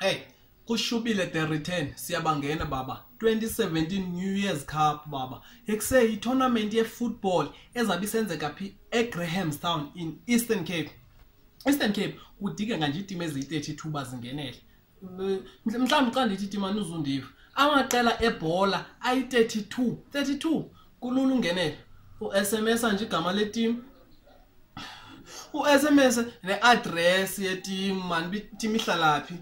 hey kushubile the return siyabangena baba 2017 new year's cup baba ekuse yitournament yefootball ezabe isenzeka phi egrahamstown in eastern cape eastern cape kudingeka nje iitimu eziyi-32 bazingenele mhlawumbi xa ndithi timani uzundiva amaqela ebhola ayi-32 32 kulula ungenela u-sms anje igama letim u-sms ne-adress yetim mani tim ihlalaphi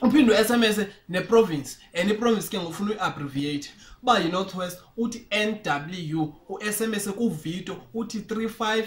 uphinde u-sms neprovince and iprovince ke ngofuna uyi-abbreviate uba yi-north west uthi n w u-sms kuvito uthi 35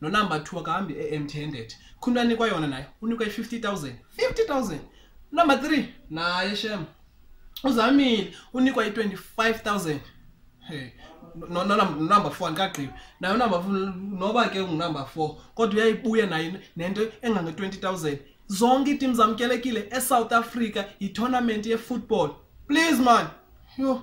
nonumber two akahambi e-empty handed khumntu anikwa yona naye unikwa i-fifty thousand fifty thousand number three naye shem uzamile unikwa i-twenty five thousand hey nonumber four andikagqibi naye unumber four noba ke ngunumber four kodwa uyayibuya naye nento engange-twenty thousand zonke iitim zamkelekile esouth africa yitournament yefootball please man yho